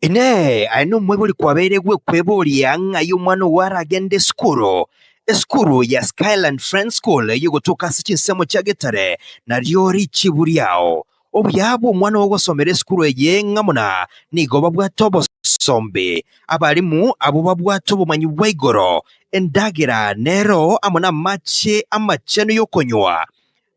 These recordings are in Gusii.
Inee! Aye nomoibori kwabeire gwekweboria ng'ai omwana ogo aragende esukuru? Esukuru ya Skyland Friends School eye egotoka ase chinsemo chia Getare nario richibu riao. Obuya bw'omwana ogo gosomera esukuru eye ng'a buna nigo babwate obosombe, abalimu abwo babwate obomanyi bwa igoro, endagera nero amo namache amachenu y'okonywa.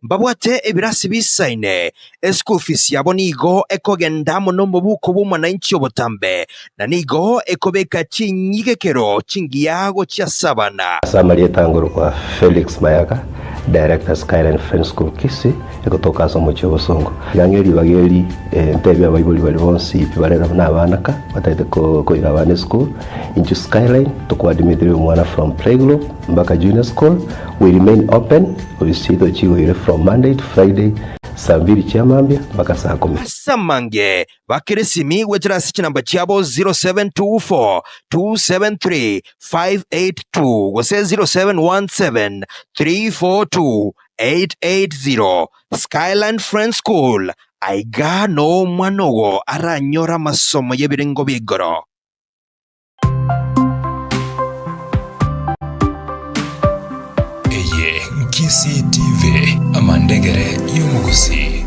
Mbabwate ebirasi bisaine, eschool fees yabo nigo ekogenda amo nomobuko bw'omwananchi obotambe, na nigo ekobeka chinyigekero chingiya gochia ase abana. Ase amarieta angorokwa Felix Mayaka, Director Skyline Friends School Kisii, egotoka ase omochie o Bosongo. Yang'e ribaga eri entebia abaibori baria bonsi pi bare nabo na abana ka batagete koira abana eschool. Intwe Skyline tokwadimitheria omwana from playgroup. Mbaka Junior School will remain open with seat ochigoire from Monday to Friday saa mbiri chia mambia mbaka saa kumi. Ase amange, bakeresimi goetera ase chinamba chiabo 0724 273 582 gose 0717 342 880. Skyline Friends School, aiga noo omwana ogo aranyore amasomo y'ebirengo bia igoro. Eye Nkisii TV, amandegere y'omogusii.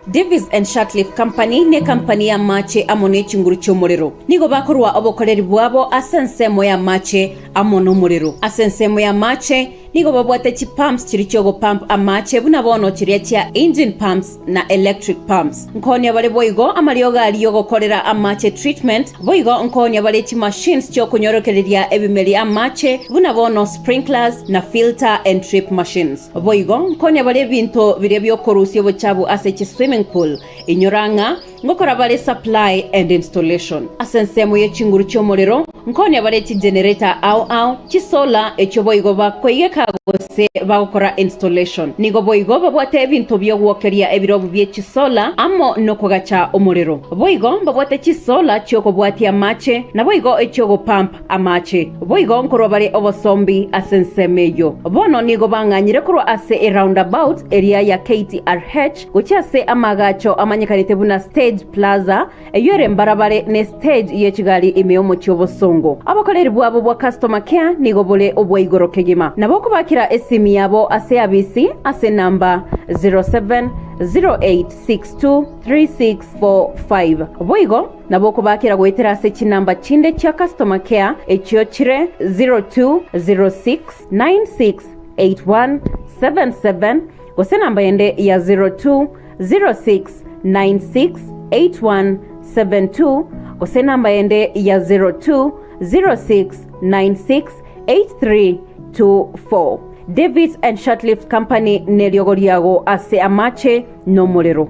Davies and Shatcliffe Company nekampani y'amache amo nechinguru chi'omorero. Nigo bakorua obokoreri bwabo ase ensemo y'amache amo nomorero. Ase ensemo y'amache Nigo babwate chipumps chiria chi'ogopump amache buna bono chiria chia engine pumps na electric pumps. Nkonya bare boigo amariogo aria ogokorera amache treatment, boigo nkonya bare chimachines chi'okonyorokereria ebimeri amache buna bono sprinklers na filter and drip machines. Boigo nkonya bare ebinto biria bi'okorusia obochabu ase chiswimming pool. Inyora ng'a Ngokora bare supply and installation ase ensemo ye chinguru chi'omorero, nkonia bare chigenerator ao ao, chisolar, echio boigo bakoigeka gose bagokora installation. Nigo boigo babwate ebinto bi'ogwokeria ebirobu bie chisolar amo nokogacha omorero. Boigo mbabwate chisolar chi'okobwatia amache, naboigo echi'ogopump amache. Boigo nkorwa bare obosombi ase ensemo eyio. Bono nigo bang'anyire korwa ase eroundabout eria ya KTRH, Gochia ase amaagacho amanyekanete buna Stage Plaza, eyio ere mbarabare ne stage ye chigari ime y'omochie obosongo. Obokoreri bwabo bwa customer care nigo bore obwa igoro kegima. Nabo okobakera esimi yabo ase eabisi ase number 0708623645. Boigo nabo okobakera goetera ase chinumber chinde chia customer care echio chire 0206968177 Gose namba yende ya 0206968172 gose namba yende ya 0206968324. David and Shortlift Company neriogo riago ase amache nomorero.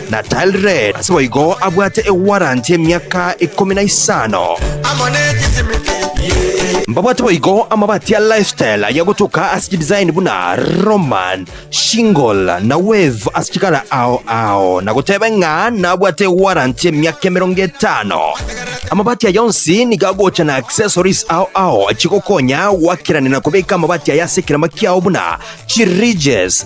na Tile-Red, ase boigo abwate ewaranti y'emiaka ikomi na isano. Mbabwate boigo amabati a Lifestyle aya gotoka ase chidesign buna Roman, Shingle na Wave ase chikara ao ao, na gotebe ng'a nabwate ewaranti y'emiaka emerongo etano. Amabati aya onsi nigo agocha na accessories ao ao chigokonya goakerania na kobeka amabati aya ase ekerema kiao buna chi-ridges,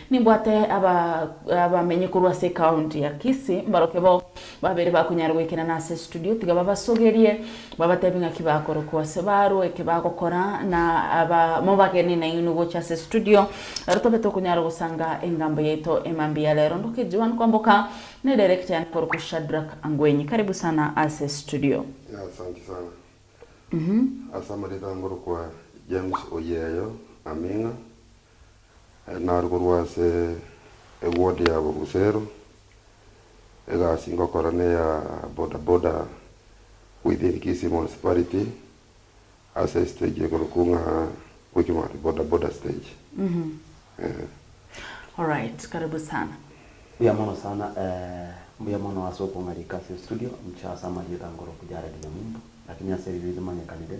Nimbwate aba abamenyi korwa ase ekaunti ya Kisii mbaroke bo babere bakonyara goikerana ase studio tiga babasogerie babatebi ng'aki bakorokwa ase barwo eke bagokora na aba mobageni nainwe gocha ase studio ero tobe tokonyara gosanga engambo yaito ema mbuya rero ndoke Joan Kwamboka ne director yane korokwa Shadrack Angwenyi karibu sana ase studio. Yeah asanti sana. Ase amariko ange orokwa James Oyeyo Aming'a, Naro korwa ase egwood ya Bogusero, egasi ngokora neya boda boda within Kisii Municipality ase estage ekorokwa ng'a Quickmart boda boda stage, eeh. Alright, karibu sana. Mbuya mono sana, eeh, mbuya mono ase okong'arika ase estudio, inche ase amarieta nkoroku Jared Nyamumbu, lakini ase ebibe ebimanyekanire,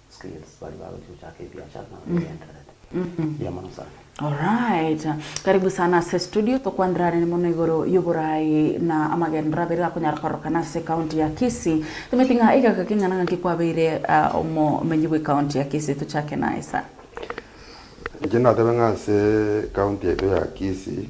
skills baria bagochia gochaka ebiachara nabo begendererete. Mbuya mono sana. Alright. Karibu sana ase studio tokwanera anene mono igoro y'oboraai na amagenderero abere akonyara kororokana ase county ya Kisii. Tomaeti ng'a egeka keng'ana ng'aki kwabeire ah, omomenyi bwe county ya Kisii tochake naye sir. Inche natebe ng'a ase county yaito ya Kisii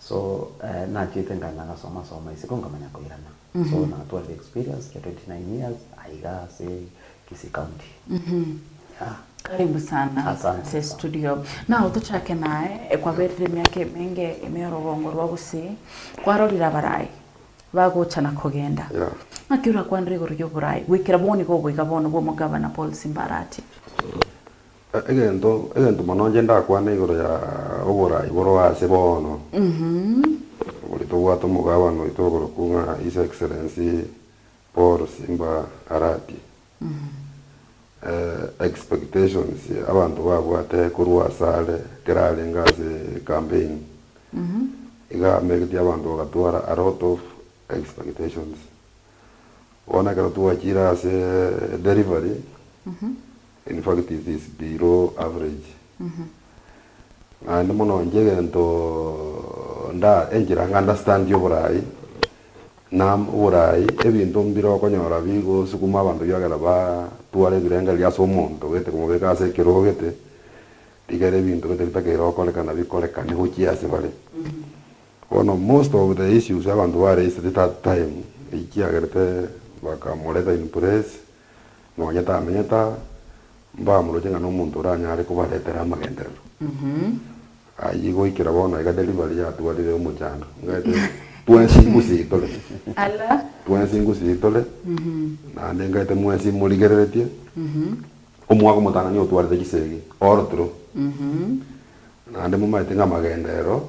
So nachete nga nagasoma soma isiko nkamanya koirana so natwarire experience ya 29 years aiga ase Kisii county yeah. Karibu sana Asante ase sana. studio nao tochake naye e, kwaberire emiaka emenge ime orogongo rwa gusii kwarorire abarai bagocha na kogenda Yeah. ng'aki orakwanire igoro y'oborai goikera bono iga obo iga bono bwa omogabana Paul Simbarati Egento, egento mono inche ndakwane igoro ya oboraai boro aase bono, bori tobwate omogabane oito oborokwo ng'a His Excellency Paul Simba Arati, expectations abanto babwate korwa ase are ekero arenge ase campaign, iga ameritie abanto bagatwara a lot of expectations. Bono ekero twachiire ase delivery. In fact it is below average naende mono inche egento nda enchera nga understand oborai na oborai ebinto mbire okonyora bigosukuma abanto biagera ba tware ebirengererio ase omonto gete komobeka ase ekero gete rigere ebinto gete bitakeire okorekana bikorekane gochia ase bare. Bono most of the issues abanto ba raised that time ekiagerete bakamoreta in place Nonya tamenyete aa, mbamoroche ng'a nomonto oranyare kobaretera amagenderero. Ayio goikera bono iga delivery yatwarire omochando, ng'aete twensi ngusii tore, twensi ngusii tore, naende ng'aete mwensi morigereretie, omwaka omotananio otwarete chisegi all through. Naende momaete ng'a amagenderero.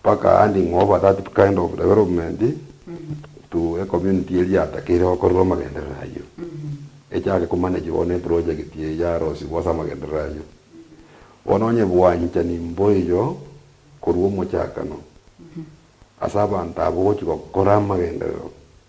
Mpaka handing over that kind of development to a community eria yatakeire gokorerwa amagenderero ayio, echake komanagigwa ne project eye yarosigwa ase amagenderero ayio. Bono onye bwanchani mboiyo korwa omochakano, ase abanto abwo gochia gokora amagenderero,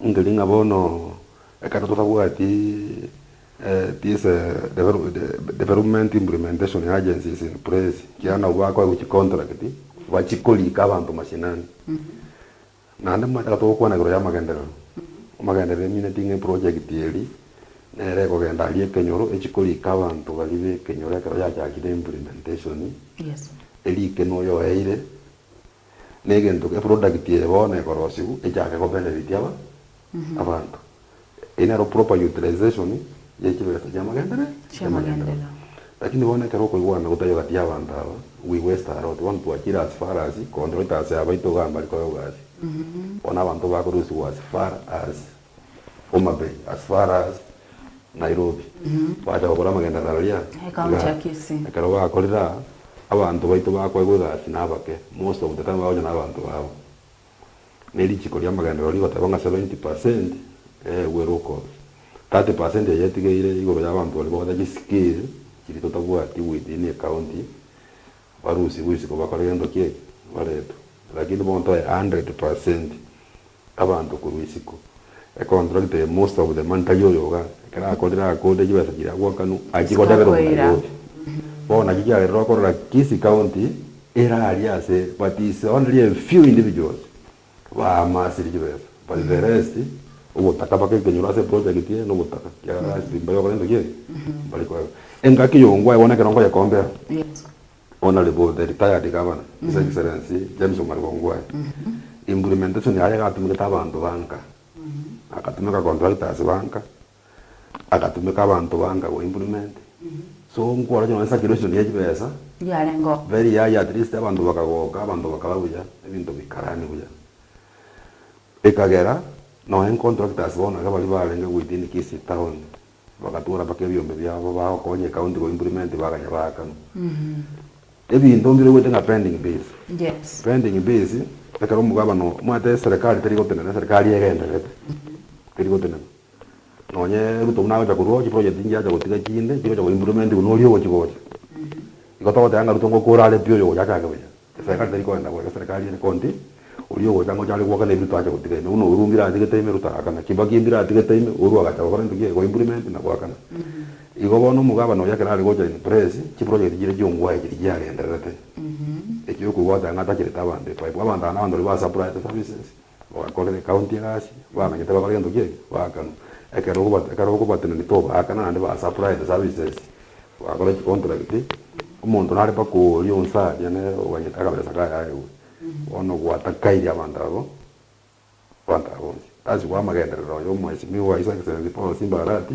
Nkeri ng'a bono, ekero totabwati these development implementation agencies in place, kiagera nabwo bakoegwa chicontract bachikorika abanto mashinani. Naende ekero togokwana igoro y'amagenderero, amagenderero emineti ng'a eproject eri nere ekogenda aria ekenyoro echikorika abanto baria b'ekenyoro ekero yachakire implementation, erike noyo oeire. Negento eproduct eye bono ekorosiwu echake ko benefit aba abanto. Eye nero proper utilization ye chibesa chia amagendereo chia amagendereo. Lakini bono ekero okoigwana gotari ogati ya abanto aba we waste a lot bono twachire as far as koonchoita ase abaito iga mbari koyogasi bono abanto bakorusiwa as far as Homa Bay as far as Nairobi bacha gokora amagenderero aria igaa ekero bakorire aa abanto baito bakoegwa egasi na abake most of the time bagocha na abanto babo ne richiko ria amagenderero rigoteba ng'a 70 percent eegwe locals 30 percent eye etigeire igoro ya abanto baria bagocha chi skill chiria totabwati within a county barusigwe isiko bakore gento kieeiki baretwe lakini bono toye 100 percent Abanto korwa isiko econtract eye most of them ntari oyoga ekero akorire akorire chibesa chiria agwakanu achie kodebera omo Nairobi bono nakio kiagerire okorora Kisii county eraria ase but is only a few individuals bamasire chibesa but the rest ogotaka baka ekenyoro ase project eye na ogotaka ekiagera last week mbare gokora ntoki eye mbare koeba engaki yongwae bono ekero nkoyekombera. Owner Reboy, the retired governor, His Excellency James Omari Ongwae, implementation yaye gatumekete abanto banka, agatumeka contractors banka, agatumeka abanto banka go implement, so nkore onye nonye circulation ya chibesa, Yarengeo. very high at least abanto bakagoka, abanto bakara buya, ebinto bikarani buya, ekagera nonye contractors bono iga baria barenge within Kisii town, Bagatwora mpaka ebiombe biabo bagokonya ecounty go implement bakanya baakana ebinto mbiroruete ng'a pending bills. Yes. Pending bills ekero omogabane omanyete eserekari teri gotenena eserekari egendererete teri gotenena nonye Ruto buna agocha korwa oo chiproject nchia acha gotiga chinde chigocha go implementigwa noria ogochi gocha igo togoteba ng'a Ruto ngokora are pi oyo ogocha achake buya. Eserikari teri koenda goeta eserikari ere konti oria ogocha ngocha are gwoka nebiruto ache gotiga ime buna oru mbiratigete ime rutarakana kibaki mbiratigete ime oru agacha gokora into kiege ko implement na goakana igo bono omogabana oria ekero are gocha in place chiprojegeti chiria chiongwaya chiria chiagendererete ekio okoigwa goteba ng'a atachirete abanto epayipu abanto aba nabanto baria ba supplied services. Bagakora ekaunti egasi, bamanyete bakore gento gie keakano. Ekero okoba ekero okobatenena tobaaka naende ba supply the services, bagakora chi contract, omonto nare mpaka oria onsaria nere omanyete akabesa kaye aegwe. Bono gwatakairi abanto abwo, abanto aba bonsi. Tasiboa amagenderero oyo Mweshimiwa His Excellency Paul Simba Arati.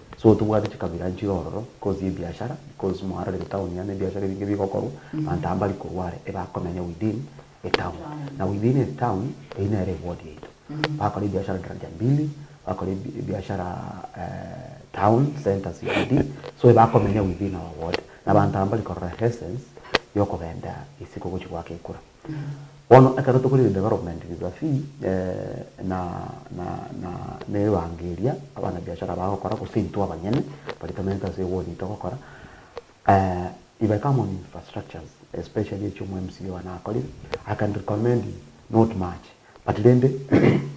So tobwate chikabira nchire ororo because yebiashara because moarorire town yaane ebiashara ebinge bigokorwa abanto aba mbari korwa are ebakomenya within etown na within etown eyio nere eward yaito bakora ebiashara daraja mbili bakora ebi ebiashara eh town centre CBD so ebakomenya within our ward na abanto aba mbari korora essence yokogenda isiko gochia goaka ekura. Bono ekero tokorigereria development risafi na na na na ebango eria abanabiashara bagokora gose intwe abanyene baria tomerete ase ewodi togokora we become on infrastructures especially echio omo mca one akorire I can recommend him not much but rende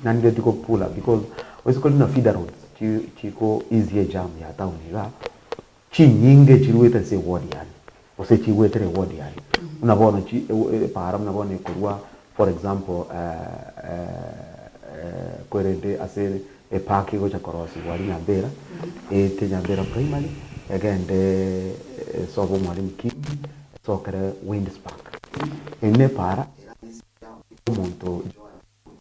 nari ready go pull up because onye gose kore buna feeder roads chi chiko easy ejam ya town igaa. Chinyinga echiruete ase ewodi yaye, gose echigwetera ewodi yaye, buna bono chi epaara buna bono ekorwa for example kwerende ase epark egocha korosigwa aria Nyambera, eete Nyambera Primary, egende esobe omwalimu Kiibi, esokere Windspark. Eyi nepaara erabe ase eya omonto Joan Kiibi.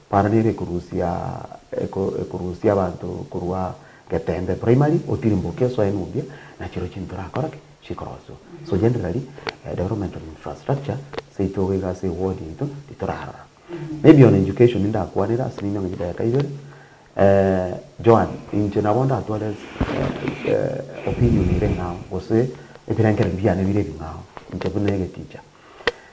Para nere ekorusia ekorusia abanto korwa getembe primary otirimboke osoe nobuya nachiro chinto orakoraki chikoroswa so generally development of infrastructure seito iga ase eward yaito titorarora maybe on education ndakwanere ase rinde ng'a chidakika ibere Joan inche nabo ndatware opinion ere ing'ao gose ebirengererio biane bire ebing'ao inche buna egeticha.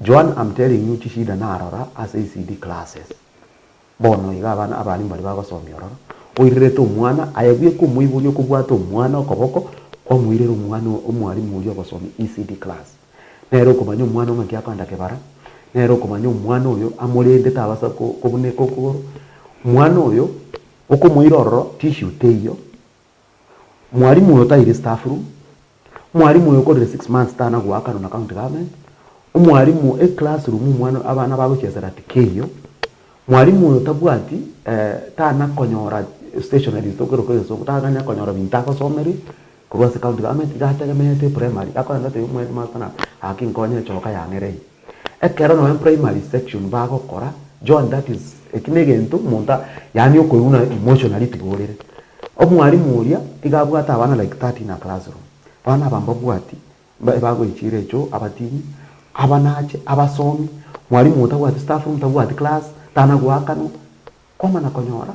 Joan am telling you chishida narora ase ECD classes bono iga abana abalimu baria bagosomia ororo oirerete omwana aye buya komoiboria okobwate omwana okoboko kwamoirera omwana omwalimu oria ogosomia ECD class nere okomanya omwana ng'aki akoenda kebara nere okomanya omwana oyo amorende tabasa kobuneka okogoro omwana oyo okomoira ororo tissue teiyo Mwalimu oyo taire staff room, mwalimu oyo okorire six months tana goakanwa na county government, omwalimu eclass room omwana abana bagochesera tikeiyo, mwalimu oyo tabwati eh tana konyora stationaries tokero kore esongo, tanganya konyora binto agosomeria korwa ase county government iga ategemeete primary, akorenda atoiyo omoheadmaster nabo, gaki nkonye echoka yang'ereire. Ekero nonya primary section bagokora, John that is eki negento omonto yaani okoigwa buna emotionally tiborere. Omwalimu oria tiga abwate abana like 30 in a classroom. Abana aba mbabwati ebagoichire echo abatini, abanache, abasomi, mwalimu otabwati staff room tabwati class, tana goakanwa. Kwamana konyora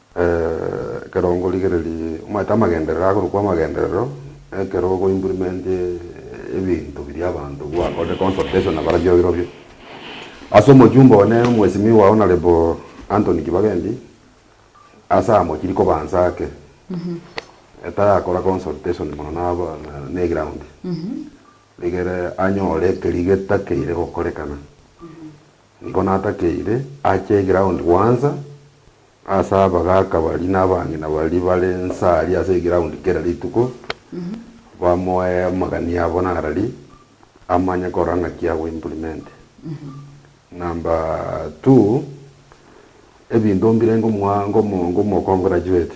Ekerongo rigererie omanyete amagenderero akorokwa amagenderero, ekero ogo implement ebinto biria abanto gwakorire consultation na barabio birobio. Ase omochumba one mwesimiwa Honourable Anthony Kibagendi, ase aa mochiri kobansa ake, etayakora consultation mono na aba ne eground, rigere anyore ekerigeita keire gokorekana. Nigo natakeire ache egiraundi gwansa ase abagaaka baria na abang'ina baria bare inse aria ase egiraundi kera rituko, bamoe amagani abo narari, amanye korora ng'aki ago implement. Number two, ebinto mbire ngomoa ngomo ngomo congratulate.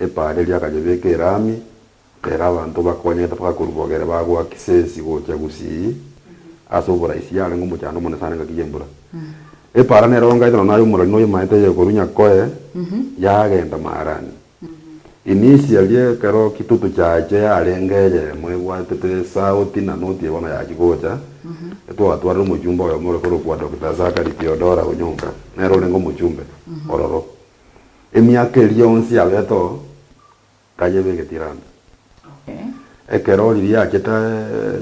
Epaareri akanyebeka Elami, ere abanto bakonyete mpaka korwa Bogere bagoa Kisesi gochia Gusii, ase oboraisi yarenge omochando omonene sana engaki y'embura. Epaara nere oongaite nonya aye omorori nonya omaete aye korwa Nyakoe yagenda Maarani. Inisia ria ekero kitutu chiache yarenge eyemo ebwatete esauti na noti eye bono yachia gocha, etwatwarire omochumba oyomo ore korokwa Doctor Zachary Theodora Onyonka, nere orenge omochumbe ororo. Emiaka eria yonsi yabete oo, tanyeba egetiranda. Ekero riria achete,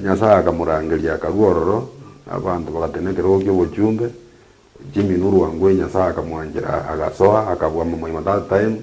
Nyasae akamorangeria, akarua ororo, na abanto bagatenena ekerogo ki'obochumbe, Jimmy Nurwa Ngui Nyasae akamwanchera, agasoa, akabua Mamaima that time.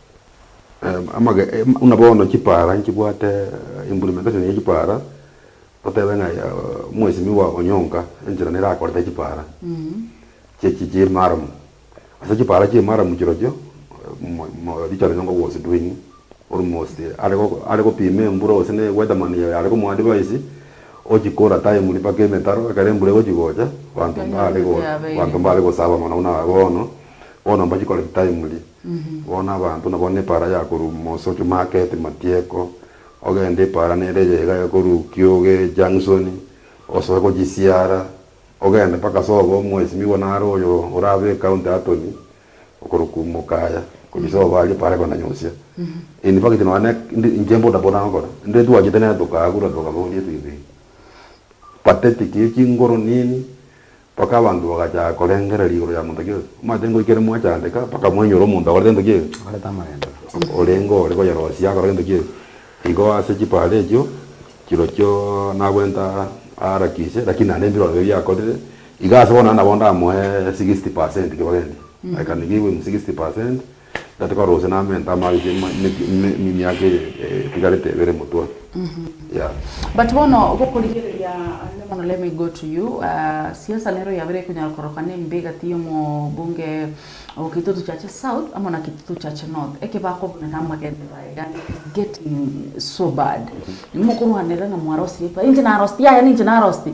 Em, amage, em, buna bono chipara nchibwate implementation ye chipara otebe ng'a eh, mheshimiwa onyonka enchera nerakorete chipara chi- chi- chimaramu ase chipara chimaramu chirochio mo- mo- richard onyonga was doing almost are go- are gopima embura gose ne weatherman yaye are komoadvise ochikora timely mpaka emetaro ekero embura egochi gocha abanto Onye mbare embura go- yabeire. abanto mbare gosaba mono buna bono bono mbachikorete timely. Bono abanto nabo nepaara yakoruuma moso Chumaketi matieko, ogende epaara nere eyeiga ekorukia oge Jangsoni, osoke gochisiara, ogende mpaka sobo omwesimigwa naro oyo orabe ecounty attorney okorwa kumoka aya, gochia sobo aria epaara ekonanyosia. In fact nonya ne ndi inche boda boda ngokora, ndire twachete nere tokaagura tokaboria ebibe pathetic chinguru nini, Mpaka abanto bagachaka korengereria igoro ya monto gete, omanyete ng'o ekero mwachandeka, mpaka mwainyora omonto akorete gento ki'ege, Akorete amagendo. orenge ore koyerosia akore gento ki'ege. Igo ase chipaara echio chirochio nagwenta aarakise, lakini naende mbirore bibe biakorire, iga ase bono nabo ndamoe sixty percent kibagendia, I can give him sixty percent. Tari tikorusia na amento amaabi ase ema emeke ime emiaka eye etigarete ebere motwe yeah. But bono gokorigereria onde mono let me go to you ah, siasa nero yabire ekonyara koroka nembe egati y'omobunge o Kitutu Chache South amo na Kitutu Chache North eke bakobuna na amagende baye iga it is getting so bad mokorwanera ng'a mwarosirie pai inche narositie aya ninche narositie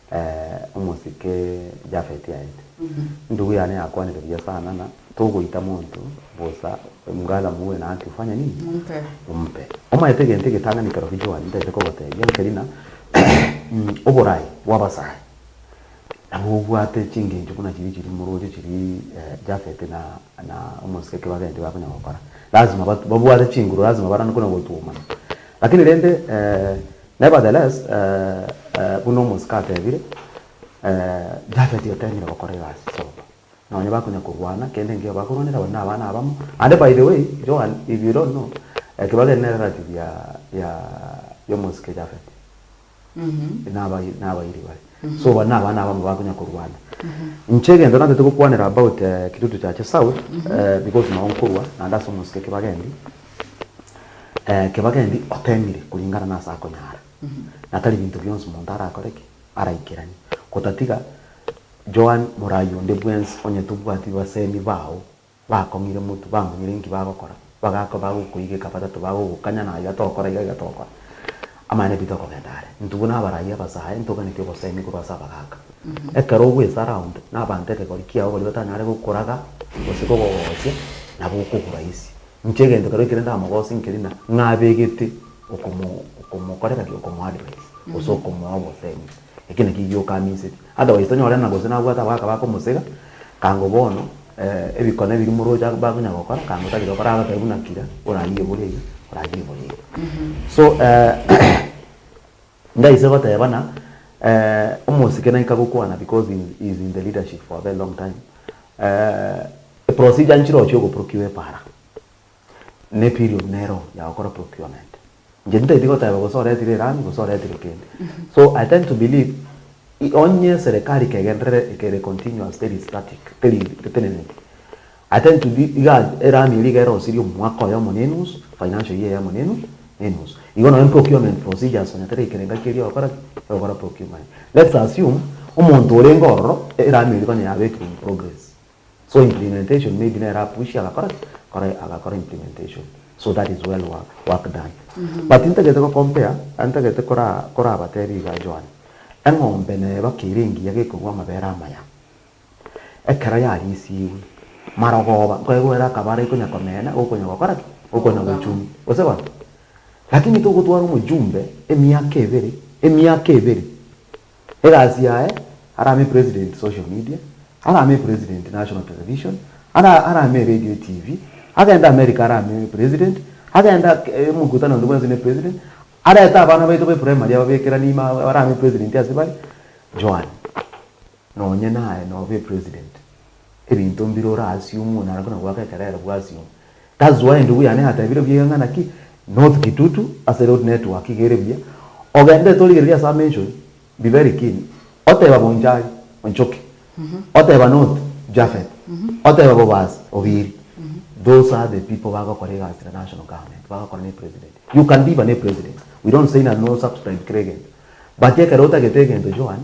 Ee, omosike Jafeti aete. Endugu yane yakwanire buya sana na togoita monto bosa mgala muwe na haki ofanye nini? Mumpe. Ompe. Omaete egento egetang'ani kerobio Joan ntaete kogotebia, nkeri na oborai bw'abasae nabo obwate chingencho buna chiria chiri moroche chiri Jafeti na na omosike kebagenti bakonya gokora. Lazima babwate chinguru, lazima barane konya gotuomana. Lakini rende ee. Nevertheless, buna omosike atebire, Jafet otemire gokora egasi sobo, nonye bakonya korwana, kende enkio bakorwanera abande nabana abamo, and by the way, Joan, if you don't know, ekebago eke ne relative ya ya ya omosike Jafet, naba nabairi bare, so bande nabana abamo bakonya korwana. Inche egento nantete gokwanera about Kitutu Church South, because nao nkorwa, naende ase omosike ekebago endi, Kebaga endi otemire kuringana nase akonyara, na tari binto bionsi monto arakore ki? Araikeranie, gotatiga Joan morai onde bwensi onye tobwati basemi bao bakong'ire motwe, bamanyire inki bagokora, bagako bagokoigeka batato bagogokanya na aiga tokora aiga aiga tokora. Amang'ana aito tokogenda are, intwe buna abarai abasae ntoganeti obosemi korwa ase abagaka. Ekero ogoesara onde na abanto ekegori kiao baria batanyare gokuraga gose kogogochia nabo okogurwa isi. Inche egento keroo ekere ndamogose nkeri na ng'abegete okomo okomokorera ki okomo advise gose okomoa obosemi. Ekio nakio gioka aminseti. Otherwise tonyore ng'a gose nabwate abagaka bakomosega, kango bono ebikone biria moroche bakonya gokora kango tagete gokora agotebi buna kira orayie bore iga orayie bore iga. So Ndaise goteeba na eh, omosike naika gokwana because he is, he is in the leadership for a very long time eh, eprocedure nchirochia ogoprokiwa epara ne period nero ya gokora procurement inche ntaeti goteeba gose oretire erami gose oretire kende so i tend to believe i- onye serikali kegenderere ekere continuous teri static teri teteneneti Attention, Iga erani eria igere osirie omwaka oyomo na enusu, financial year eyemo na enu, na enusu. Igo nonye procurement procedures onye tari ekerenga keria ogokora ki? Ogokora procurement. Let's assume omonto orenge ororo erani eria konya yabekire in progress. So implementation maybe nere apushie agakora ki? Kore agakora implementation. So that is well work, work done. But intagete go compare, intagete kora korabatebi iga Joan, eng'ombe neba kera engiya gekogwa amabere amaya. Ekero yariisigwe, Marogoba nkoigwere akaba arai konya komena, gokonya gokora ki? Gokonya gochuni, gose gose. Lakini togotwara omojumbe emiaka ebere, emiaka ebere, egasi yaye, arame president social media, arame president national television, ara, arame radio TV, agende America arame president, agende emokutano onde bwensi ne president, arete abana baito be primary ababekeranie ime arame president ase bare, Joan. Nonye naye nobe epresident, ebinto mbire orasiomwe naende buna goaka ekerero bwasiomwe. That's why endugu yane yatebire buya iga ng'a naki North Kitutu ase road network iga ere buya, ogendete origereria ase amention, be very keen, oteba Bonchari, Onchoki, oteba North, Japhet, oteba Bobasi, Obiri, those are the people bagokora egasi na national government, bagokora ne president. You can be even a president, we don't say ng'a no subscribe kera egento, but ekero otagete egento Joan,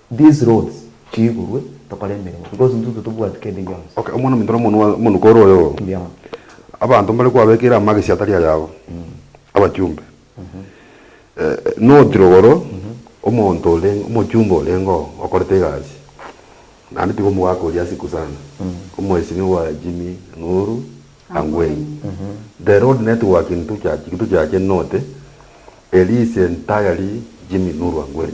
These roads chiigurwe tokore emeremo because intuntwe tobwati kende gionsi. Okay, omwana ominto nomonwa omonuko ore oyo oo. Mbiama. Abanto mbare kwabekeire amagesi atari ayabo, abachumbe. Notire igoro omonto orenge, omochumbe orenge oo okorete egasi, naende tiga omogaka oria ase Kusana, Omweshimiwa Jimmy Nuru Angwen. The road network in Tuchurch, Kituchurch Norte, Elise entirely Jimmy Nuru Angwen.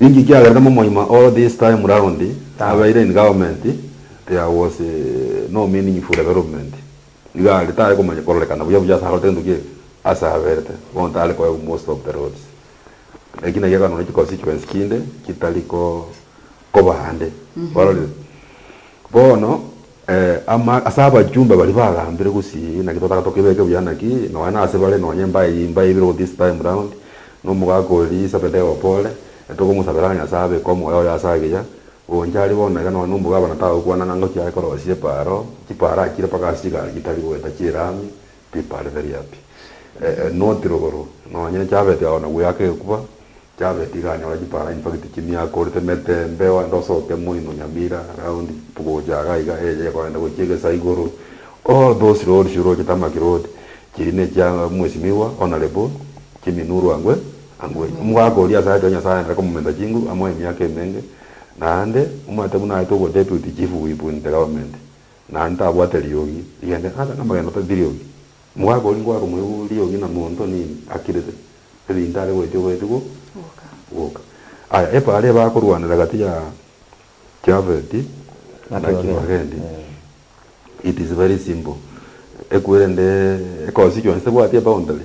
Inki kiagerete momoima oo this time round abeire in government there was no meaningful development iga aria tari komanya kororekana buya buya ase arorete entuki eke ase aberete bono tari koegwa most of the roads eki naki ekanone chi constituency chinde chitari ko koba ande kwarorire bono. Ee, ase abachumba baria bagambire gusii, naki totaka tokebeke buya naki, nonya nase bare nonya embaye eye imbaye ibere this time round, na omogaka oria Sebedeo opore, tokomosabera Nyasae abeke omoyo oye ase agiya, ogoncha aria bono iga nonya omogabana tagokwana ng'a ngochia aye korosia epaaro, chipaaro achire mpaka ase chigari chitari goeta chiraami, Pipali tari happy eh not rogoro nonye chabeti ago na gweaka egekuba chabeti iga anyore chipara infact chimia akorete metembe ogende osoke moino nyamira round gocha iga iga eye kogenda gochia egesa igoro all those roads oroche tarmac road chiri nechia mwesimiwa honourable Jimmy Nuru angwe angwe omogaka oria asayete oyo nyasaye aenderere komomenta chinguru amoe emiaka emenge naende omanyete buna aete obwa deputy chief whip in the government Na ntabwate riogi rigende ase namagena tari riogi. Omogaka oria ngoaka moebu riogi na monto nini akirete ebinto are goetia oboeti go goka. Aya epaara ebe akorwanera gati ya Jafeti na Kibagendi it is very simple. Ekwere nde ekonsicuensi tebwati eboundary.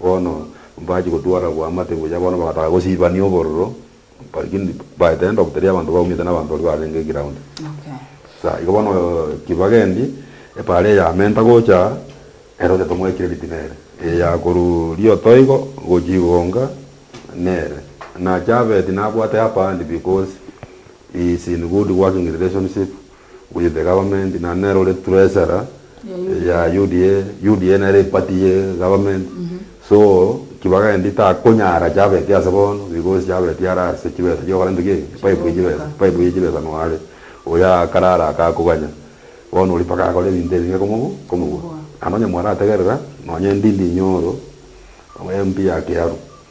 Bono mbachie gotwara boamate ngochia bono bagataka gosiibania obororo, lakini baete rende oboteria abanto baumete na abanto baria barenge ground. Sa igo bono ki bagendi epaara eyamenta gocha ere oria tomwae credit nere, eya korwa rioto igo gochia igonga nere. Nache abeti nabwate up hand because he is in good working relationship. which is the government naende nere ore treasurer ya UDA, UDA nere eparty ye government so kibaga endi takonyara chabeti ase bono because chabeti are ase chibesa chiokora intwe ki? Pipe ye chibesa, pipe ye chibesa noo are oyo akarara akakoganya bono oria mpaka akore ebinto ebinge komobu komobua naende onye mwarategerera nonye endi ndinyoro MP ya kiaru.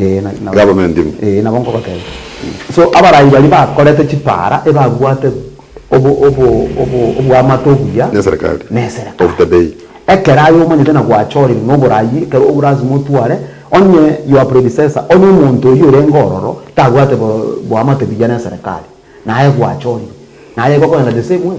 Ee, na- na- Government ime. Ee, nabo nkogoteebia. So, abarai baria bakorete chipaara ebabwate obo- obo- obo- oboamate obuya Neserikali. neserikali. Of the day. Ekero aye omanyete na gwachorire na oborai, ekero obu lasima otware, onye your predecessor, onye omonto oyio orenge ororo, tabwate bo- boamate buya neserikali, naye gwachorire, naye gokoenda the same way.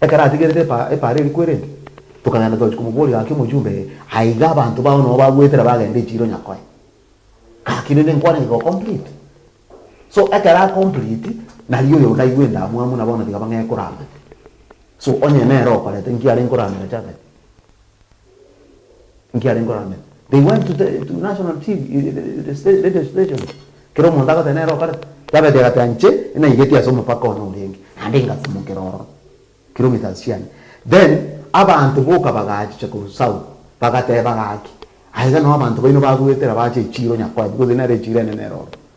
Ekero atigerete epaara eria kwerente, tokagenda togochia komoboria gaki omojumbe eye, aiga abanto bao nabo bagoetera bagenda echiiro nyakoe. Gaki rende nkwarenge go complete. So ekero a complete, nario oyo ndaigwe endamwamu na bono tiga bang'ee koramanya. So onye nere okorete, nki are nkoramera Japheth? Nki arenge orangere? They went to the to national TV radio station, kera omonto agoteba nere okorete. Yabeti egati anche naigeti ase omopaka one orenge, naende ngasimokera ororo, kilometres chiane. Then abanto boka bagachicha korwa south, bagateba gaki, aiga nao abanto baino bagoetera bache echiiro Nyakwabi, gose nere echiiro enene ere ororo.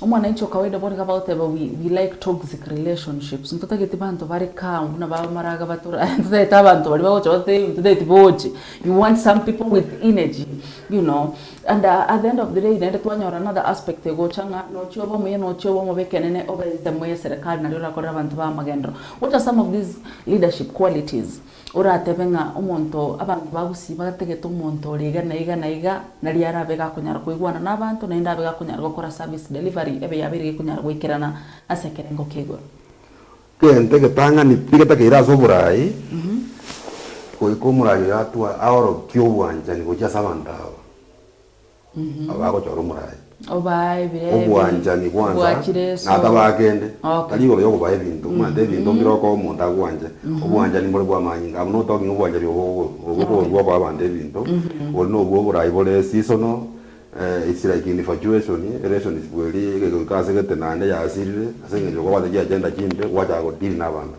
Omwananchi okawaida bono iga bagoteba we we like toxic relationships ntotageti banto bare calm buna ba maraga batore aye ntotagete abanto baria bagocha bagote eeh ntotageti boche you want some people with energy you know and uh at the end of the day naende twanyora another aspect egocha ng'a nochie obe omuya nochie obe omobe ekenene obe ensemo y'eserekari naria orakorere abanto b'amagenderero what are some of these leadership qualities Oratebe ng'a omonto abanto bagusii bategete omonto ore iga na iga na iga, nari arabe gakonyara koigwana na abanto, naende abe gakonyara gokora service delivery ebe yabeire gekonyara goikerana ase ekerengo kia igoro. Egento egetang'ani nigetakeire ase oboraai, goika omoraai oyo atwa aorokia obwanchani gochia ase abanto aba. Aba agochora omoraayo. Obaa ebire ebi. Obwanchani bwansa Obwachire na eso. atabaa kende. Okay. Tari igoro y'okobaa ebinto, omanyete ebinto mbire okoa omonto agwanche. Obwanchani mbore bw'amanyinga. Abwo notokie ng'a obwanchani obwo obo obo okoorua okoa abanto ebinto, bori nobwo oborai bore seasonal, eh, it's like infatuation, relationship eria egegoika ase gete naende yasirire ase eng'encho okobwate chiagenda chimbe, gwachaka go deal na abanto.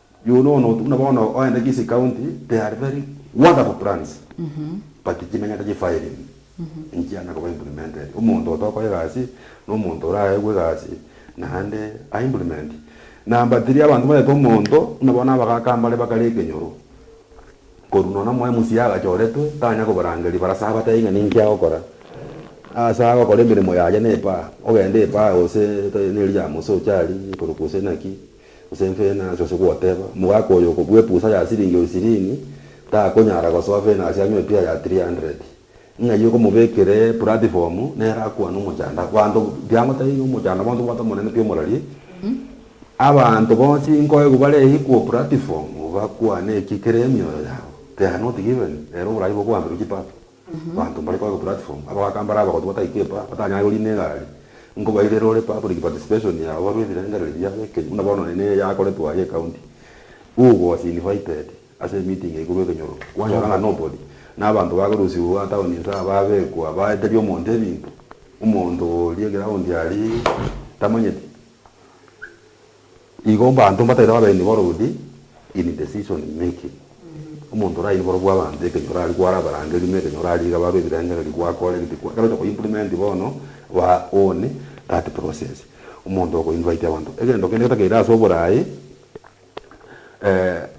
Yuno one otu buna bono oende Kisii County, they are very wonderful plans but chimanyete chi filing enchiana koba implemented. Omonto otokoa egasi na omonto oraegwe egasi naende a implement. Number three, abanto banyete omonto buna bono abagaka mbare bakare ekenyoro korwa nonya omo MCA agachoretwe tanya kobarangeria barase abatebi ng'a ninki agokora. Ase agokora emeremo yaye na epaa, ogende epaa gose ne riamosi ochari korokwa gose naki. Gose enfenasi ase goteba, omogaka oyo okobua epusa ya siringi oisirini, takonyara gosoa fenasi anywe epia ya three hundred. Ng'ai okomobekera epuratifomu, nere akwane omochando. Abanto, tiagotebi ng'a omochando bonsi obwate omonene pi omorari. Abanto bonsi nkoigwa bareikwa opuratifomu, bakwane eki kere emioyo yabo. They are not given. Rero oborai bokoambirwa chipato. Abanto mbare korwa platform abagaka mbare abagotu batai keeper batanyare korina egari nkobairera ore public participation yao barue ebirengereri biabo ekenyu buna bono nonye neye yakoretwe aye ecounty u was invited ase emeeting eye korwa ekenyoro kwanyora ng'a nobody na abanto bakorusiwa town inse babekwa baeteria omonto ebinto omonto oria eground aria tamanyeti. Igo mbanto mbataino ababeeni b'orodi in decision making. Omonto oraini borobwo abanto ekenyoro aria kware abarange erimo ekenyoro aria iga babe ebirengererio gwakore gete kwa ekero ocha ko implement bono ba own that process. Omonto oko invite abanto egento kende getakeire ase oboraai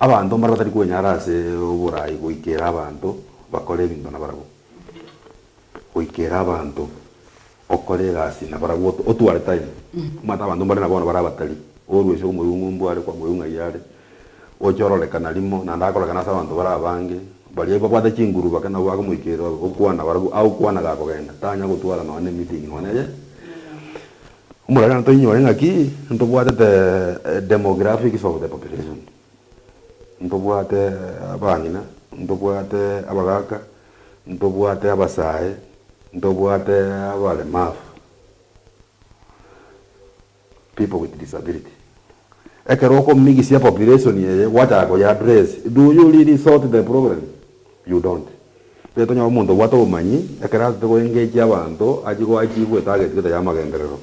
abanto mbare batari kwenyara ase oboraai goikera abanto bakore ebinto nabarabwo. Goikera abanto. Okore egasi nabarabwo otwarete aye, omanyete abanto mbare na bono bare abatari, orue ase omoyung'umbu are kwamorwa ing'ai are, oche ororekana rimo, naende akorekana ase abanto bare abange, baria babwate chinguru bake nabo bakomoikereria babe gokwana barabwo agokwana gakogenda, tanyara gotwara nonye ne meeting nonye eye. Omorero toinyore ng'aki ntobwatete demographics of the population, ntobwate abang'ina, ntobwate abagaka. ntobwate abasae, ntobwate abaremafu, people with disability. Ekero okomigisia population eye gwachaka koy'address, do you really sort the problem? You don't. Tari tonyora omonto obwate obomanyi ekero asete goengage abanto achie goachievewa etarget gete y'amagenderero.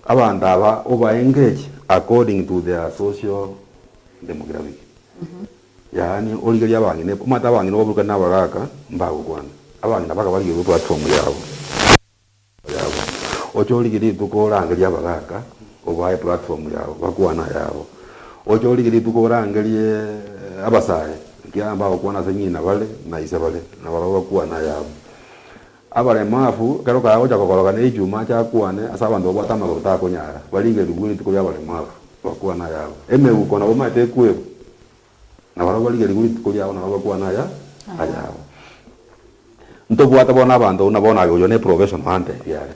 Abanto aba oba engage according to their social demographic. Yaani, origerie abang'ina, omanyete abang'ina obaburukane nabagaaka, mbagokwana. Abang'ina bakabarigerwa eplatform yabo, echannel yabo. Oche origie rituko orangerie abagaaka, obae eplatform yabo, bakwane ayabo. Oche origie rituko orangerie abasae, ekiagera mbagokwana ase ng'ina bare, na ise bare, nabarabwo bakwane ayabo. Abaremu abwo ekero kagocha kogoroka ne echuma chakwane ase abanto babwate amagoro takonyara, barigerigwe rituko ri'abaremu abwo, bakwane ayabo. Emeuko nabo emaete ekwerwe, na barabwo barigerigwe rituko riabo nabo bakwane aya ayabo. Ntobwate bono abanto buna bono aye oyio ne professional ante ebi are.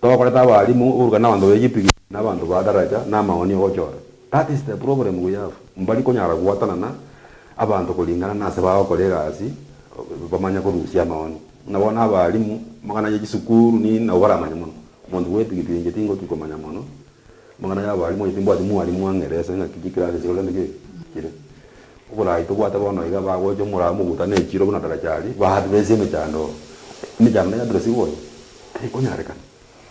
Tokorete abalimu oborokani na abanto b'echipikipiki na abanto ba daraja na amaoni ogochora. That is the problem we have, mbari konyara goatana na abanto koringana na ase bagokora egasi, bamanya korusia amaoni. Buna bono abalimu, amang'ana ye chisukuru ni nabo baramanye mono. Omonto bwa epigipigi inche tingotwi komanya mono amang'ana y'abalimu, onye timbwati mwalimu ang'ere ase ng'aki chikirasi chire ore nde chire. Oborai tobwate bono iga bagocha omorao mobuta na echiro buna daraja aria, ba address emechando, emechando nero yadresiwa oyo, teri konyarekana.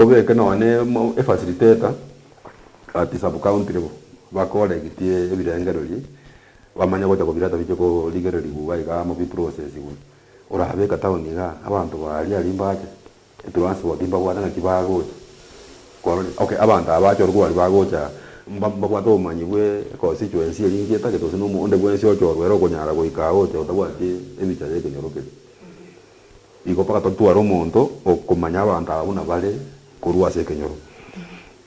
Obeke noone efasiliteta ati subcountry bo bakoregitie ebirengererio bamanye gocha kobireta biche korigererigwa iga iga amo bi processigwe. Orabeke town iga abanto ba aria aria mbache etransport mbabwate naki bagocha kwarorire okay abanto aba bache orokobari bagocha mbabwate obomanyi bwe constituency eria inche etagete gose na omonto onde bwensi ochorwa ere okonyara goika agocha otabwati ebicha ya ekenyoro keria. Igo mpaka totware omonto okomanya abanto aba buna bare korwa ase ekenyoro.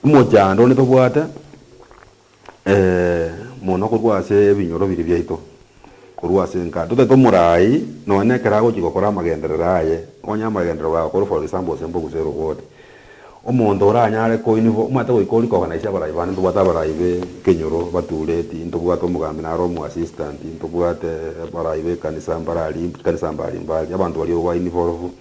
Omochando onde tobwate mono korwa ase ebinyoro biria biaito, korwa ase enka totaete omorai nonya nekero agochia gokora amagenderero aye, onye amagenderero baye akorwa for example gose mbogusero board. Omonto oranyare koinigwa omwete goika oria koganaisia abarai bane, ntobwate abarai b'ekenyoro batureti, ntobwate omogambi naro omoasistanti, ntobwate abarai b'ekanisa mbare aria, ekanisa mbari mbari, abanto baria obo bainigwe orofu.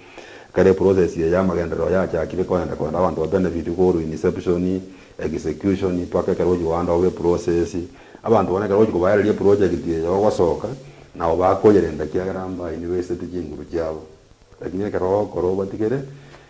Ekero eprocess eye y'amagenderero yachakire kogenda kogenda abanto ba benefitwe korwa inception, execution, mpaka ekero ogochia goanda obe eprocess, abanto bono ekero ogochia kobaereria eprojegti eye ogosoka, nabo bakoyerenta ekiagera mbainigwe esete chinguru chiabo. Lakini ekero ogokora obatigere,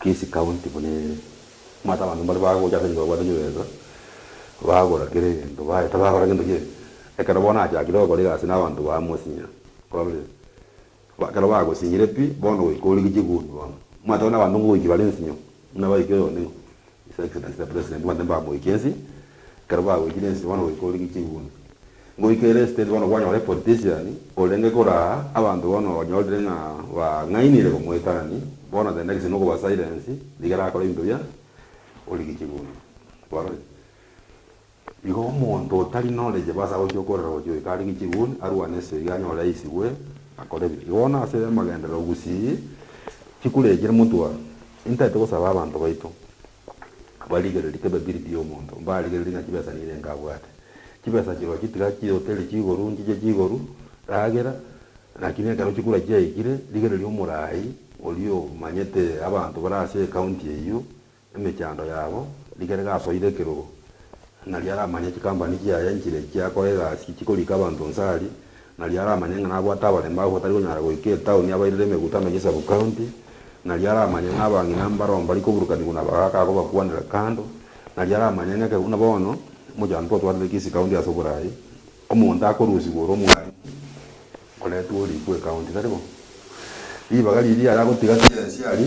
Kisii County buna ere. Omanyete abanto mbare bagocha ase ense babwate chibesa, bagora kera egento baye tabakora gento gionsi. Ekero bono achakire gokora egasi na abanto ba mosinya, ororire, ekero bagosinyire pi, bono goika origie chigumi bono. Omanyete abana abanto ngogoiki bare nsinyo, buna baiki oyonde ng'o, His Excellency the President bande mbamoikie ensi, ekero bagoikire ensi bono goika orenge chigunda. Ngoika ere estate bono kwanyora epolitician orenge kora aa, abanto bono onyorire ng'a bang'ainire komoitanani, bono the next nokoba silence rigere akore ebinto bia orenge chigunda. Barore. Igo omonto otari norenge basa gochia okorera gochia oyo kare gechiguni arwane esoiga anyore aisibwe, akore ebibe. Igo bono ase amagenderero gusii chikurekire motwe aa, intaete gosaba abanto baito barigererie kebe biri bi omonto, mbarigererie ng'a chibesa nirenga abwate. Chibesa chirochio tiga chihoteli chigoru, nchiche chigoru, ragera, naki na ekero chikura chiaikire, rigereria omorai oria omanyete abanto bare ase ecounty eyio, Emechando yabo rikarege asoire ekerogo, nario aramanye chikampani chiaye nchire chiakora egasi chikorika abanto Nsari, nario aramanye ng'a nabwate abaremi abwo batari konyara goika etaoni abairire emegutano ye sub county, nario aramanye ng'a abang'ina mbaro mbari koburukanigwa na abagaaka agobakwanera kando, nario aramanye ng'a ekero buna bono omochando twotwarire Kisii county ase oboraai, omonto akorusigwa ore omwarimu oretwe orikwe ecounty, tari bo? Ribaga riria yare agotiga tiga Nsari.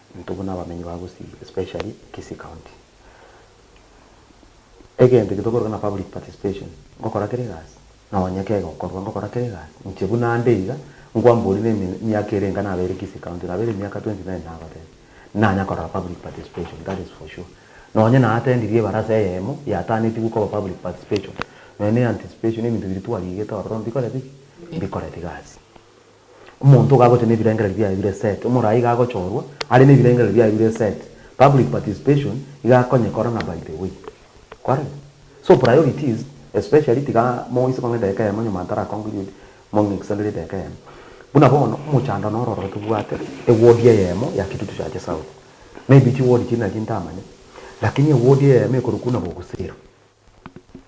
Intwe buna abamenyi ba Gusii especially Kisii county egento eke tokoroka na public participation, ngokora kera egasi nonya kega okorwa ngokora kera egasi inche buna nde iga nkwambori na emiaka ere enga nabeire Kisii county nabeire emiaka twenty nine nagoteba nanya korora public participation that is for sure. Nonya na attendiri ebarasa eyemo yatanetigwe koba public participation nonya na anticipation ebinto biria twarigete ororo mbikoreti ki? Mbikoreti gasi. Omonto iga agocha nebirengererio biaye bire set, omoraai iga agochorwa are nebirengererio biaye bire set, public participation iga akonye kora na by the way. Kwarenge? So priorities, especially tiga moise kong'a edageka eyemo nyuma ntara conclude, mong'e extended edageka eyemo. Buna bono omochando noro ororo tobwate eward eyemo ya Kitutu Church South. Maybe chiward chiria nario ntamanya, lakini eward eyemo ekorokwa buna Bogusero.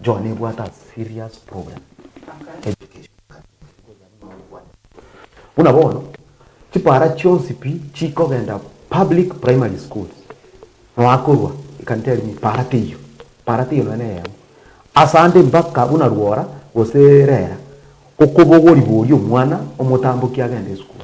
Joan ebwate a serious problem education services nigo yare nonya gokwana ebisaku. Buna bono chipara chionsi pi chikogenda public primary schools nonya korwa ekanisa ya Limuru para teiyo para teiyo nonya neyemo asande mpaka buna rwora gose rera okobogori boria omwana omotamboki agende esukuru.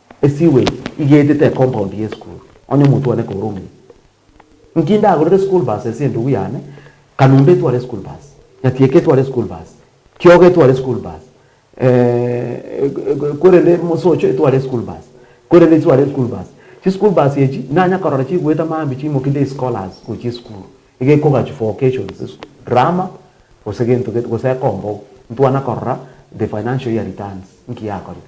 Esewage igetete ecompoundi y'esukuru, onye omonto one kourumia. Inki ndagorere esukuru basi ase endugu yane, kanumba etware esukuru basi, nyatieka etware esukuru basi, kiogo etware esukuru basi, korende mosocho etware esukuru basi, korende chitware esukuru basi. Chisukuru basi echi nanya korora chigoeta maambia chiimoki day scholars gochia esukuru, iga ekogachwa for occasions, drama gose gento gento gose ekombou, ntwana korora the financial year returns, inki yakorire.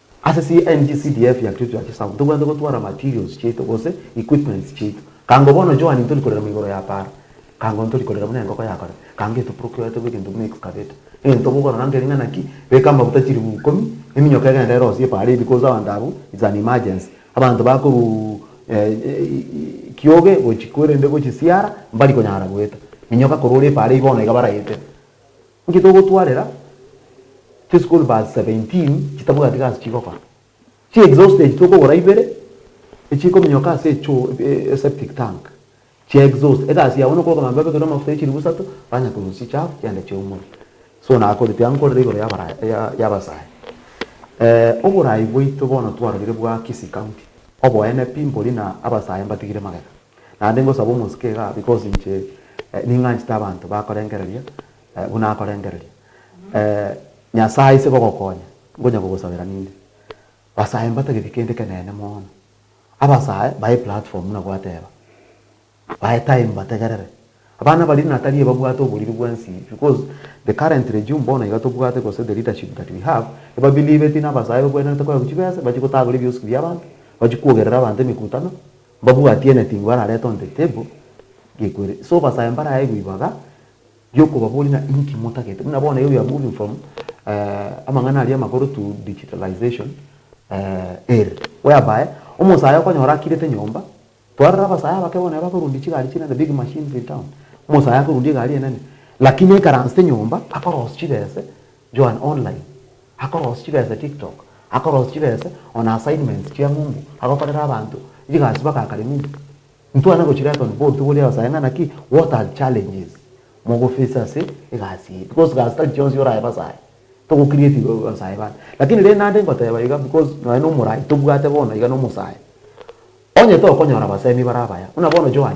Ase CNG CDF ya Kericho ya Chisau ntobwate gotwara materials chiaito gose equipments chiaito. Kango bono Joan ntori korera moigoro ya para. Kango ntori korera buna engoko yakorera. Kango geto procuretwe egento buna excavator. Egento bokorora nkeri ng'a naki beka amaguta chiribu ikomi, eminyoka egende erosie para eye because abanto abwo it's an emergency. Abanto bakorwa kioge gochia korende gochia siara mbari konyara goeta. Minyoka korwa ore para eye bono iga baraete. Inki togotwarera chi school bus 17 chitabwati gasi chigokora? Chi exhauster echi tokogora ibere echikominyoka ase echoo e septic tank chia exhauster egasi yabo nokoroka mambia babekere amafuta echiribu isato banya korusia echafu chianda chiaumore. So nakoreti iga nkorire igoro yabasae. Oborai bwaito bono twarorire bwa Kisii county oboene pi mbori na abasae mbatigire magega. Naende ngosaba omosike igaa, because inche ning'anchete abanto bakorengereria buna akorengereria. Nyasae ase gogokonya, ngonya kogosabera ninde, basae mbatagete kende ekenene mono. Abasae bae platform buna gwateba, bae time bategerere. Abana baria natari ebabwate oboriri bwensi because the current regime bono iga tobwate gose the leadership that we have, ebabeliveti nabasae ebakwenerete koewa chibesa, bachie gotagora ebioski biabanto, bachie kwogerera abanto emekutano. Mbabwatie nating'u bararete on the table gekweri so basae mbarae gwibaga giokobaboria ng'a inki motagete buna bono here we are moving from eh, amang'ana aria amakoro to digitalization eh, ere whereby omosae okonyora akirete nyomba twarora abasae abake bono aba korundia chigari chire the big machines in town omosae akorundia egari enene lakini ekaransete nyomba akoros chibese Joan Online, Akorosia chibesa TikTok, Akorosia chibesa ona assignments chia ng'umbu agokorera abanto, Chigasi bagakare ng'umbu Ntwane gochireta on board togori abasae ng'a naki What are challenges mogofacing ase egasi eye because gasi tari chionsi orae basae togo create basae bande lakini rende naende ngoteba iga because nonya na omorai tobwate bono iga na omosae onye tokonyora abasemi bare abaya buna bono Joan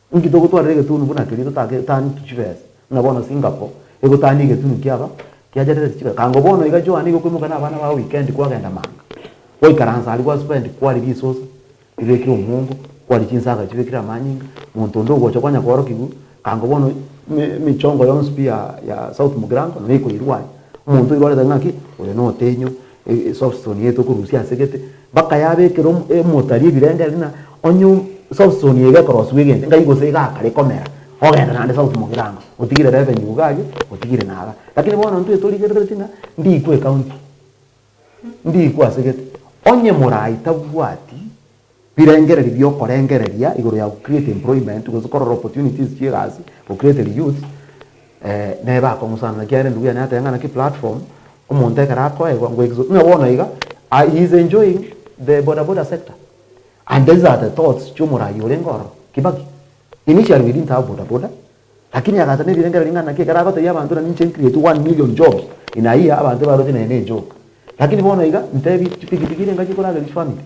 Inki togotwarera egetunu buna keria totaake taaneti chibesa? Ng'a bono Singapore egotaania egetunu kiaba kiacherereti chibesa. Kango bono iga Joan iga okoimoka na abana bao weekend kwagenda manga. Gwaikaransa aria gwa spend kwari risosa ribekire omuongo, kwari chinsaga chibekire amanyinga, monto onde ogocha kwanya koorokigwa. Kango bono eme emechongo yonsi pi ya ya South Mugirango nabo ekoirwa aye. Omonto oirwarete ng'a ki? Oyo notenyo, Esoftone eye tokorusia ase gete, bakayabekera emotari ebirengeri na onye softone eye gekorosiwa egento ngai gose egakare komera ogende naende south mogirango otigire revenue iga aria otigire naga lakini bono intwe torigerereti ng'a ndikwe ecounty ndikwe ase gete onye morai tabwati. Birengererio biokorengereria igoro ya go create employment gose korora opportunities chiegasi go create reyouth nebe akong'usana naki are ndugu yane ateba ng'a naki platform omonto ekero akoegwa ngo exo ng'a bono iga he is enjoying the bodaboda sector and these are the thoughts chiomorayi orenge ororo Kibaki initially we didn't have bodaboda Lakini agacha nerirengero ring'ana naki ekero agotebia abanto ng'a ninche ncreate one million jobs in a year abanto ebaroche naye nejoka. Lakini bono iga ntebi chipikipiki ere engaki ekoragera chifamiri.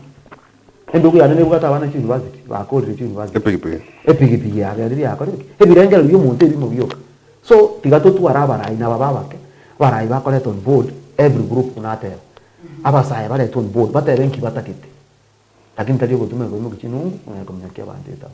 Endugu yane nebwate abana chi university bakorire chi university. Epigipigi yabo eria yakore ki? Ebirengero biomonto ebimo bioka. So tiga totware abarai naba babake, abarai bakoretwe on board every group buna ateba. Abasae baretwe on board batebe nki batagete. Lakini tari ogotuma egoimoki chinungu, ng'a ekominyokia abanto etabu.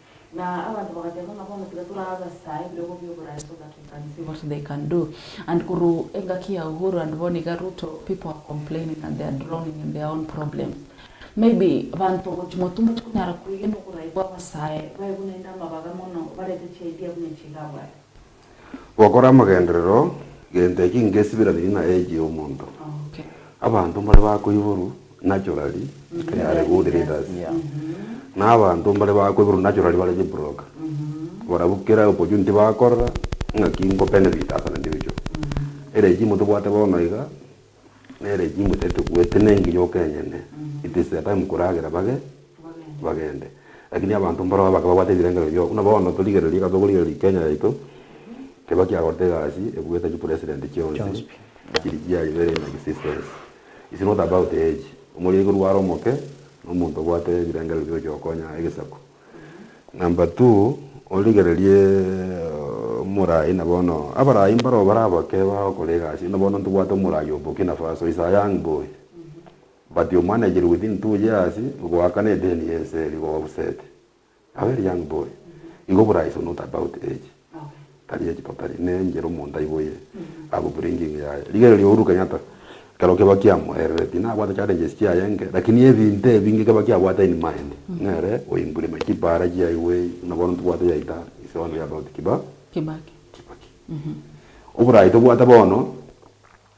Na abanto bagateeba ng'a, Bono tiga torabasae ebirogo bi'oboraai so that we can see what they can do. And korwa engaki ya Uhuru and bono iga Ruto, people are complaining and they are drowning in their own problems. Maybe abanto gochimwa tomoche konyara kwegena oboraai bw'abasae baye buna inde amabaga mono, barete chiidea buna echi iga abwate. Gokora amagenderero gento eke ngesibiranirie na eegi y'omonto. Abanto mbare bakoiborwa naturally if they are good readers. Na abanto mbare bakoiborwa naturally bare chibroker. Barabwo kera opportunity bakorora ng'aki nkobenefita ase naende ebichwa. Ere eegi motobwate bono iga. Nere chingwe tari tobwate nengiya okenyene, it is their time koragera bage bagende. Lakini abanto mbarabwo abake babwate ebirengererio bioka buna bono torigereria ekero tokorigereria Kenya yaito keba kiagorete egasi ebuete chi president chionsi chiri chiaye very in existence. It's not about age, omoriri korwa are omoke nomonto obwate ebirengererio biogochia gokonya egesaku. Number two, origererie omorai na bono abarai mbaro bare abake bagokora egasi buna bono ntobwate omorai o Burkina Faso is a young boy but you managed within two years goakana edeni y'ense eria go offset a very young boy igo oborai is not about age. Tari ye chipapari, ne enchera omonto aiboye abwe buri engingo yaye. Rigereria Uhuru Kenyatta, ekero kebao kiamoerire, tinabwate challenges chiaye enke, lakini ebinto ebinge kebao kiabwate in mind, nere oimbure ime chipara chiaigwe, buna bono ntobwate yaita ise one ya Robert Kibaki. Oborayi tobwate bono.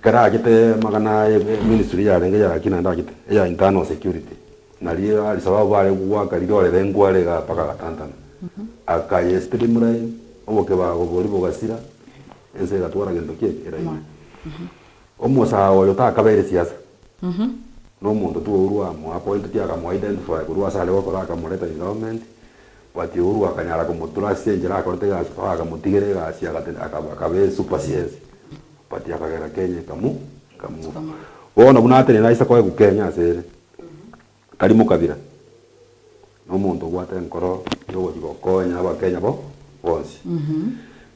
Ekero aagete magana aya eministry yarenge ya ki naende aagete eya internal security, nario Alisababu bare goaka rirore rengware igaa mpaka agatantana. Akayestream line, obokebago boria bogasira, ense egatwara gento ki? Eraini. Omosaao oyo takabeire siasa, nomonto tu ourwa amoa appointed akamoa identify korwa asare gokora akamoreta in government, Batiuru akanyara komotura ase enchera akorete egasi mpaka akamotigera egasi agate akaba akaba esupersiense but akagera Kenya ekamu ekamua bono buna atenene aise koegwa Kenya ase ere tari mokabira nomonto obwate enkoro yogochi gokonya abakenya bo bonsi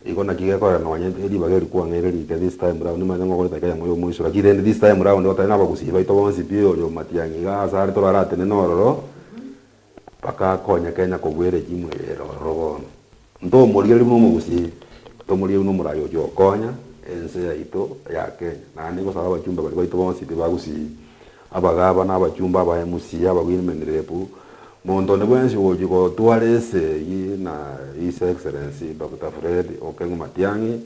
igo naki gekorera nonye eri ribaga eri kwang'eire rike this time round nimanyete ng'a okoreta Kenya moyo omoiso lakini rende this time round gotari na abagusii baito bonsi pi oria omatiang'i igaa asare toro aratenene ororo. Bakakonya Kenya kogwere chimwe ere ororo bono. Nto omoria ribu nomogusi, nto omoria ribu nomorai ochia gokonya ense yaito ya Kenya. Naende igosaba abachumba baria baito bonsi pi bagusi, abagabana, abachumba, aba MC, aba women rep, monto onde bwensi ogochia gotwara ense eyie na His Excellency Doctor Fred Okeng'u Matiang'i,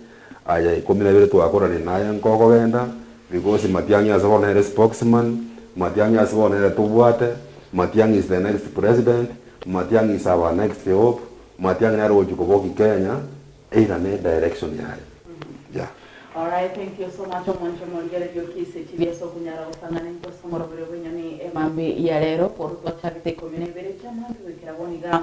Aya ikomi nabere twakorania naye nkogogenda, because matiang'i ase bono nere spokesman, matiang'i ase bono nere tobwate, matiang'i is the next president, matiang'i is our next hope, matiang'i nere ogochia koboki Kenya, either ne direction yaye. Yeah. Alright, thank you so much omonto omoria Rioki ase chibi ase okonya-ara gosangana intwe ase omorobio bw'enyoni emambia ya rero. Bono twachagete ikomi na ibere chi'amaambia goikera bono iga,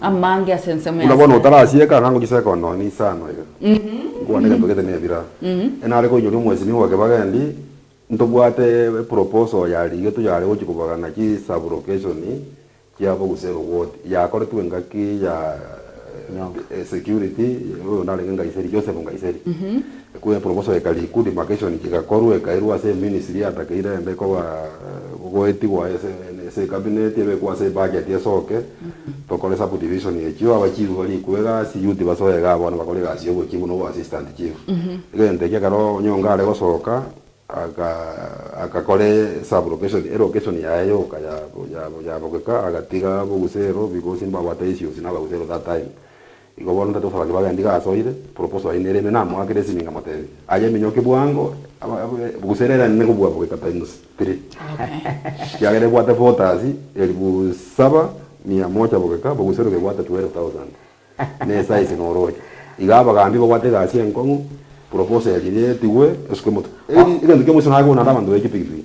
Amange ase ensemo Buna bono y'asare. otarasieka ang'aa ngochiseeka onde one inse ano iga, nkwane egento gete na ebira. E nare koinyora omwesimi bwa kebagendi, ntobwate eproposal ya rigetu yare gochia kobagana chisablocation chiabo gose erogoti yakoretwe engaki ya security oyo narenge Nkaiseri, Joseph Nkaiseri. Ekwo eproposal eka riku, demarcation chigakorwa ekairwa ase eministry yatakeire ende koba goetigwa ase ase ecabinet ebekwe ase ebudget esoke. Tokore subdivision echio aba chief bari ekwega ase youth basoe igaa bono bakore egasi ya obo chief na obo assistant chief. Egento ekio ekero Onyonga are gosoka aga agakore sub location elocation yaye yoka ya ya ya bogeka agatiga abogusero because mbabwate issues na abagusero that time. Igo bono ntacha gosaba kibaga endiga asoire, proposal, yaino ere ime namoakere esimi ngamotebi, Aye eminyoke bwango, gose ere erende kobua goika times three, ekiagera ebwate voters elifu saba, mia moja bogeka boguseruka ebwate twelve thousand. Ne size na oroche. Iga abagambi babwate egasi enkong'u, proposal eria etigwe, esuke moto. Egento kia omoisa naye koonde abanto baike pigipigi.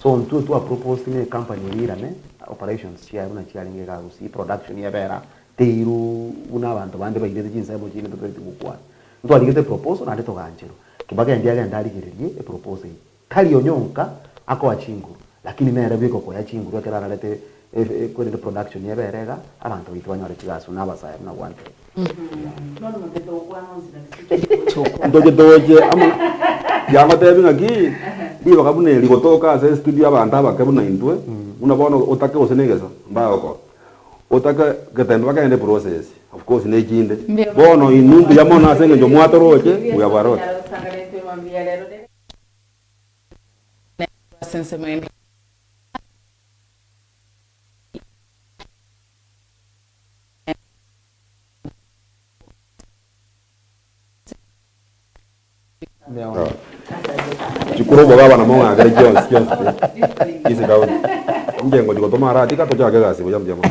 So intwe twa proposed ne company eria irane operations chiaye buna chiarenge iga gusii production ebera teiru buna abanto bande bairete chinsemo chiaino totaeti gokwana. Ntwarigete eproposal naende togaancherwa. Kibaki endi agende arigererie eproposal eye. Tari onyonka akoa chinguru lakini nere bweka okoya chinguru ekero ararete Eeh korende production ebe ere iga abanto baito banyore chigasu na abasaya buna gwantere. Ntoche toche amo na kiagotebi ng'aki ribaga buna eri gotoka ase estudio abanto abake buna intwe buna bono otake gose negesa mbaye gokora otake getembe bakende process of course ne chinde bono inwe mbuya mono ase eng'encho mwatoroche we have a lot. Chikuru omogaba na mong'akere chionsi chionsi chie ase etaoni. Inche ngochia gotoma arati, ka tochake egasi buya mbuya mono.